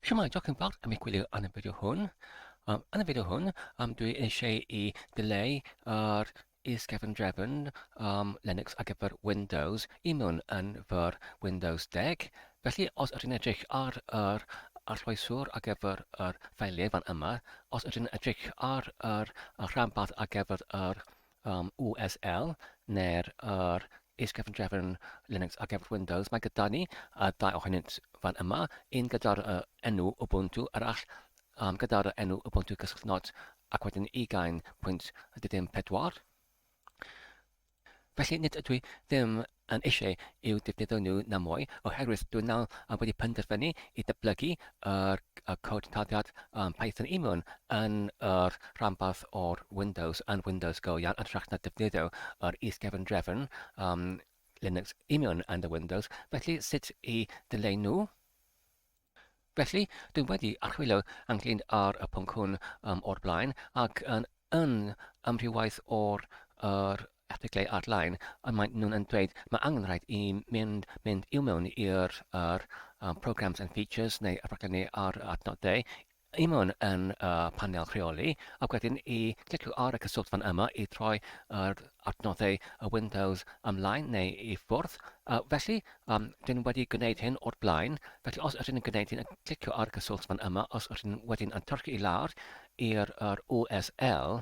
Siwmai, diolch yn fawr am eich gwylio yn y fideo hwn. Um, yn y fideo hwn, um, dwi eisiau i dileu ar is gefn drefn um, Linux ar gyfer Windows i mewn yn fyr Windows 10. Felly, os ydyn edrych ar yr arllwyswr ar gyfer yr ffeiliau fan yma, os ydyn edrych ar yr rhanbarth ar gyfer yr Am USL, neu'r yr is-gefndrefn Linux ar gyfer Windows, mae gyda ni y dau ohonynt fan yma, un gyda'r uh, enw Ubuntu, arall um, gyda'r uh, enw Ubuntu Cyswllt Not, ac wedyn 20.14. Felly nid ydw i ddim yn eisiau i'w defnyddio nhw na mwy oherwydd dw nawr wedi penderfynu i ddatblygu yr cod tarddiad Python i mewn yn yr rhanbarth o'r Windows yn Windows go iawn yn hytrach na defnyddio yr is-gefn drefn Linux i mewn yn y Windows, felly sut i ddileu nhw? Felly, dwi wedi archwilio ynglyn â'r y pwnc hwn um, o'r blaen, ac yn, yn amrywaith o'r yr erthyglau ar-lein, y maen nhw'n yn dweud mae angen rhaid i mynd, mynd i'w mewn i'r um, programs and features neu y rhaglenni ar adnodau i mewn yn y panel rheoli ac wedyn i glicio ar y cyswllt fan yma i droi yr adnoddau y Windows ymlaen neu i ffwrdd. Uh, felly, um, dyn ni wedi gwneud hyn o'r blaen, felly os ydyn ni'n gwneud hyn, clicio ar y cyswllt fan yma, os ydyn ni wedyn yn tyrchu i lawr i'r USL,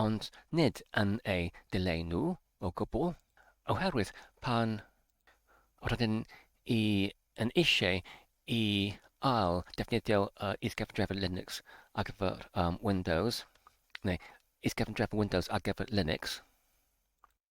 ond nid yn eu dileu nhw o gwbl, oherwydd pan rydyn ni yn eisiau i ail ddefnyddio is-gefndrefn Linux ar gyfer Windows, neu is-gefndrefn Windows ar gyfer Linux,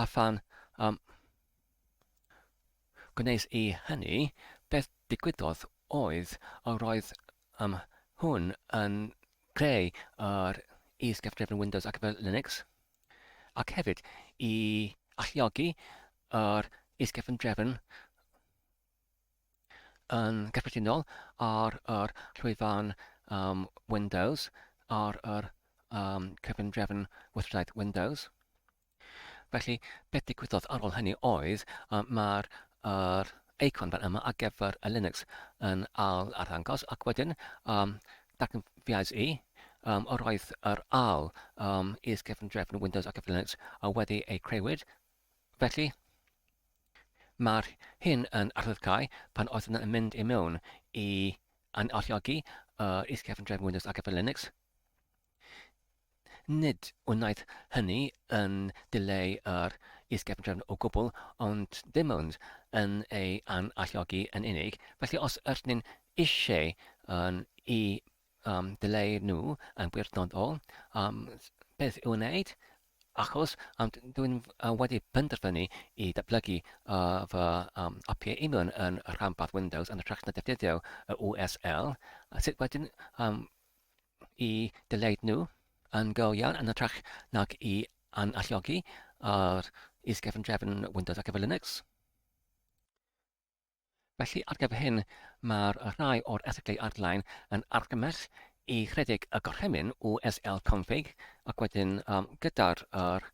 A phan um, gwnes i hynny, beth digwyddodd oedd yr oedd um, hwn yn creu yr is-gyfrifon Windows ac fel Linux, ac hefyd i alluogi yr is-gyfrifon yn gyffredinol ar yr llwyfan um, Windows, ar yr um, cyfundrefn weithredaeth Windows. Felly, beth digwyddodd ar ôl hynny oedd um, mae'r er eicon fan yma ar gyfer y Linux yn al arddangos ac wedyn um, datganfiais i um, yr oedd yr al um, is gefn drefn Windows ar gyfer Linux a wedi ei creywyd Felly, mae'r hyn yn arddydgau pan oedd yn mynd i mewn i analluogi yr is-gefn drefn Windows ar gyfer Linux. Nid wnaeth hynny yn dileu yr is-gefn drefn o gwbl, ond dim ond yn ei analluogi yn unig. Felly os ydyn ni'n eisiau yn i Am ddylai nhw yn wirdynnol am beth i'w wneud, achos dwi'n wedi penderfynu i ddatblygu fy apiau union yn rhanbarth Windows yn hytrach na defnyddio y USL, sut wedyn i ddylai nhw yn go iawn yn hytrach nag i analluogi yr is-gefndrefn Windows ar gyfer Linux? Felly, ar gyfer hyn, mae'r rhai o'r erthyglau ar-lein yn argymell i rhedeg y gorchymyn USL config ac wedyn um, gyda'r er,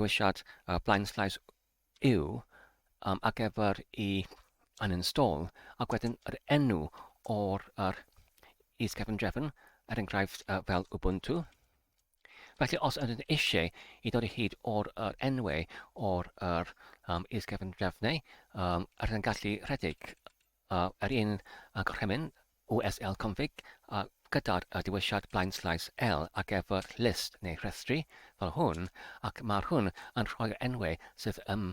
dewisiad uh, blaen slaes U um, ar gyfer i uninstall ac wedyn yr enw o'r er, is-gefn drefn, er enghraifft uh, fel Ubuntu. Felly, os ydyn eisiau i ddod i hyd o'r yr enwau o'r yr um, is-gefn drefnau, um, rydyn yn gallu rhedeg uh, yr un uh, gorchymyn USL config uh, gyda'r uh, diwysiad blaen slais L ar gyfer list neu rhestri fel hwn, ac mae'r hwn yn rhoi'r enwau sydd ym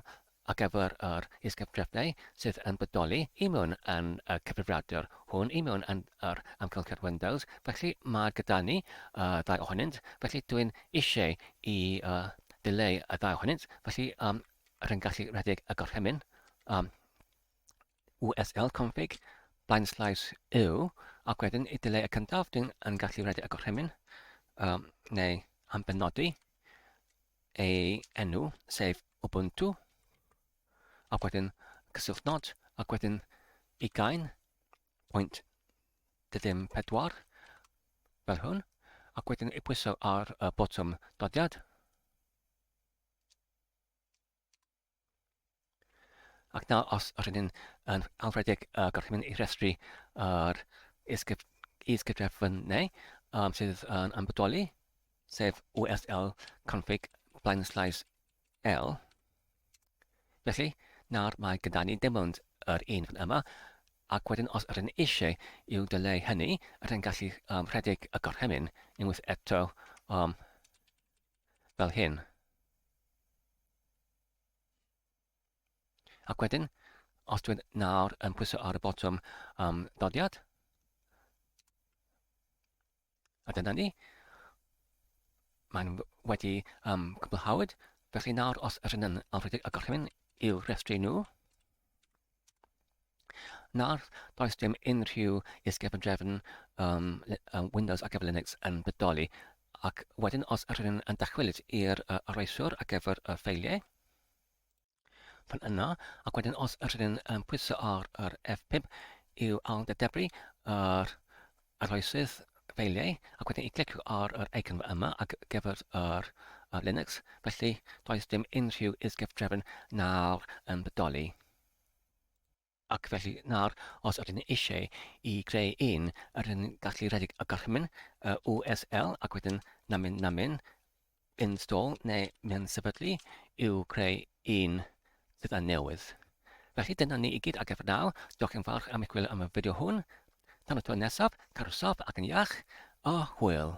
Ar gyfer yr is-gartrefiau sydd yn bodoli i mewn yn y cyfrifiadur hwn i mewn yn yr amgylchedd Windows, felly mae gyda ni y ddau ohonynt, felly dwi'n eisiau i ddileu y ddau ohonynt, felly rwy'n gallu rhedeg y gorchymyn USL config blaen slaes u, ac wedyn i ddileu y cyntaf dwi'n gallu rhedeg y gorchymyn neu am benodi, ei enw, sef Ubuntu, ac wedyn cyswllt nod, ac wedyn ugain, pwynt ddim pedwar, fel hwn, ac wedyn ei pwyso ar y botwm dodiad. Ac nawr, os rydyn ni'n yn awfredig y uh, gorchymyn i restru yr is-gyfrefynnau um, sydd yn ymwybodoli, sef USL config blaen sleis L. Felly, nawr mae gyda ni dim ond yr un fan yma, ac wedyn os rydyn ni eisiau i'w dyleu hynny, rydyn ni'n gallu um, rhedeg y gorchymyn unwaith eto um, fel hyn. Ac wedyn, os dwi'n nawr yn pwyso ar y botwm um, dodiad, a dyna ni, mae'n wedi um, cwblhawyd, felly nawr os ydyn yn awredig y gorchymyn i'w rhestru nhw, Nawr, does dim unrhyw is-gefndrefn um, um, Windows ar gyfer Linux yn bodoli. Ac wedyn, os yr ydyn yn dychwelyd i'r uh, arweithwr ar gyfer y ffeiliau, fan yna, ac wedyn os yr ydyn yn pwyso ar yr F5 i'w ailddedebru yr Arloeswyd ffeiliau ac wedi'i glicio ar yr eicon yma ar gyfer yr Linux, felly does dim unrhyw is-gyfdrefn nawr yn bodoli. Ac felly nawr, os ydyn ni eisiau i greu un, rydyn ni'n gallu rhedeg y gorchymyn, y USL, ac wedyn namin namin, install neu mewn sefydlu i'w creu un sydd yn newydd. Felly dyna ni i gyd ar gyfer nawr. Diolch yn fawr am eich gwylio am y fideo hwn. Tan y tro nesaf, cadw saff ac yn iach, a hwyl!